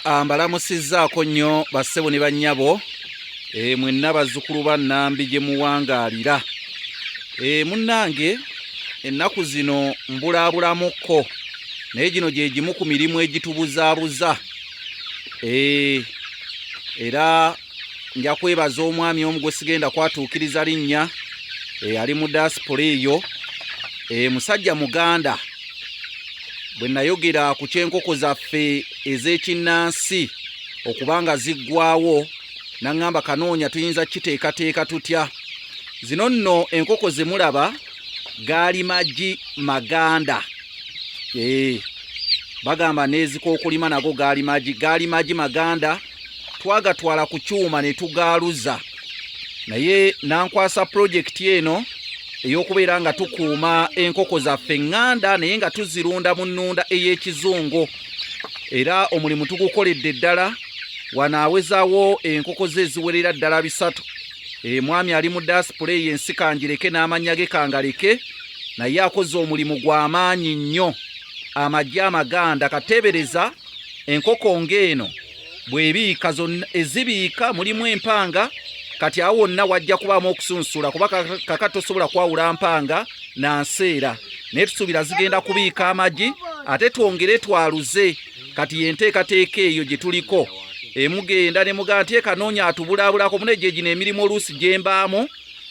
Ah, mbalamusizzaako nnyo bassebo ne bannyabo eh, mwenna bazzukulu ba nnambi gye muwangaalira eh, munnange ennaku zino mbulaabulamuko naye gino gye gimu ku mirimu egitubuzaabuza eh, era nja kwebaza omwami omu gwe sigenda kwatuukiriza linnya eyali eh, mu diaspora eyo eh, musajja muganda bwe nayogera ku ky'enkoko zaffe ez'ekinnansi okuba nga ziggwawo naŋŋamba kanoonya tuyinza kukiteekateeka tutya zino nno enkoko ze mulaba gaali magi maganda ee eh, bagamba n'ezikookulima nago gaali magi gaali magi maganda twagatwala ku kyuma ne tugaaluza naye nankwasa pulojekiti eno ey'okubeera nga tukuuma enkoko zaffe eŋŋanda naye nga tuzirunda mu nnunda ey'ekizungu era omulimu tugukoledde ddala wanaawezawo enkoko ze eziwerera ddala bisatu emwami eh, ali mu dasipula eyo ensi kangireke n'amannya ge kangaleke naye akoze omulimu gw'amaanyi nnyo amagye amaganda kateebereza enkoko ng'eno bwebiika zonna ezibiika mulimu empanga kati awo wonna wajja kubaamu okusunsula kuba kaka tosobola kwawula mpanga na nseera naye tusuubira zigenda kubiika amagi ate twongere twaluze kati yenteekateeka eyo gye tuliko emugenda ne mugaa nti ekanoonya atubulaabulako mune gyegino emirimu oluusi gyembaamu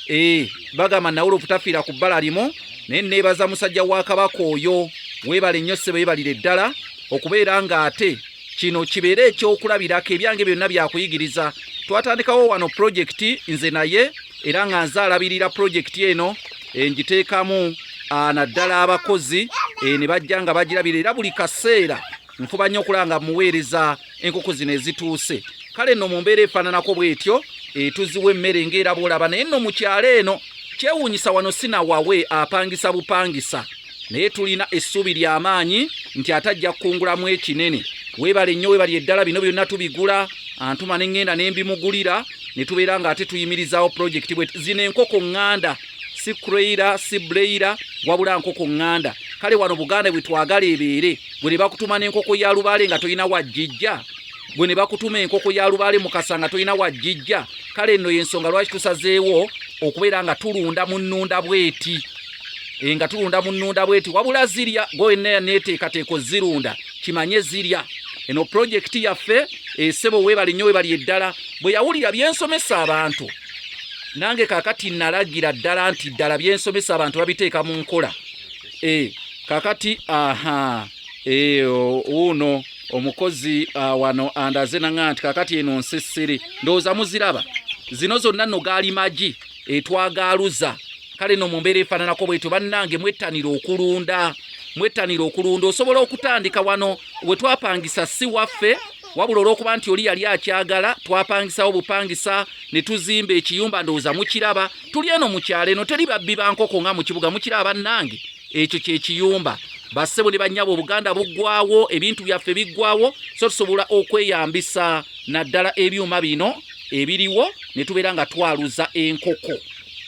ee eh, bagamba nawula obutafiira ku bbala limu naye neebaza musajja wa kabaka oyo weebale nnyo ssebo yebalire ddala okubeera ng'ate kino kibeere ekyokulabirako ebyange byonna byakuyigiriza twatandikawo wano pulojekiti nze naye era nga nze alabirira pulojekiti eno eh, ngiteekamu ah, naddala abakozi eh, ne bajja nga bagirabira era buli kaseera nfuba nnyo okulanga muweereza enkoko zino ezituuse kale nno mu mbeera efaananako bw'etyo etuziwa emmere ng'era bw'olaba naye nno mu kyalo eno kyewuunyisa wano sinawawe apangisa bupangisa naye tulina essuubi ly'amaanyi nti ate ajja kukungulamu ekinene weebale nnyo weebali eddala bino byonna tubigula antuma ne ŋŋenda ne mbimugulira ne tubeera ng'ate tuyimirizaawo pulojekiti bwe zino enkoko ŋŋanda si creira si bleira wabula nkoko ŋŋanda kale wano buganda bwe twagala ebeere gwe ne bakutuma n'enkoko ya lubaale nga tolina wajjijja gwe ne bakutuma enkoko ya lubaale mukasa nga tolina wajjijja kale nno y'ensonga lwaki tusazeewo okubeera nga tulunda mu nnunda bweti eh, nga tulunda mu nnunda bweti wabula zirya goena neteekateeko zirunda kimanye zirya eno pulojekiti yaffe esebo eh, webali nnyo webali eddala bwe yawulira byensomesa abantu nange kakati nalagira ddala nti ddala byensomesa abantu babiteeka mu nkola e, kakati aha e, uno omukozi uh, wano andaze nanga nti kakati eno nsisiri ndowooza muziraba zino zonna no gaali magi etwagaaluza kale no mu mbeera efaananako bwetyo bannange mwettanira okulunda mwettanira okulunda osobola okutandika wano we twapangisa si waffe wabula olwokuba nti oli yali akyagala twapangisawo bupangisa ne tuzimba ekiyumba ndowooza mukiraba tuli eno mu kyalo eno teri babbi ba nkoko nga mu kibuga mukira abannange ekyo kye kiyumba bassebo ne bannyabo obuganda buggwawo ebintu byaffe biggwawo so tusobola okweyambisa naddala ebyuma bino ebiriwo ne tubeera nga twaluza enkoko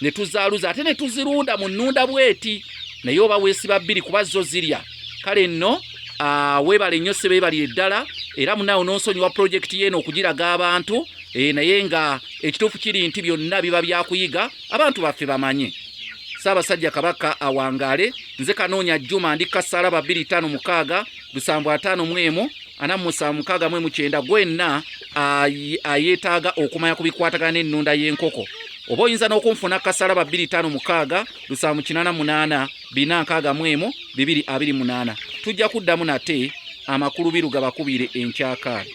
ne tuzaaluza ate ne tuzirunda mu nnunda bweti naye oba weesiba bbiri kuba zo zirya kale nno ah, webale nnyo sebe ebalire ddala era munaawe nonsonyiwa pulojekiti yeeno okugiraga abantu eh, naye nga ekituufu kiri nti byonna biba byakuyiga abantu baffe bamanye saabasajja kabaka awangaale nze kanoonya juma ndi kasaala ba 25 lusanvu ataano mwemu ana musanvu mukaaga mwemu kyenda gwenna ayeetaaga okumanya ku bikwatagana n'ennunda y'enkoko oba oyinza n'okunfuna kasaala ba 25 lusanvu kinana munaana bina nkaaga mu emu bibiri abiri munaana tujja kuddamu nate amakulu biru gabakubiire enkyakaali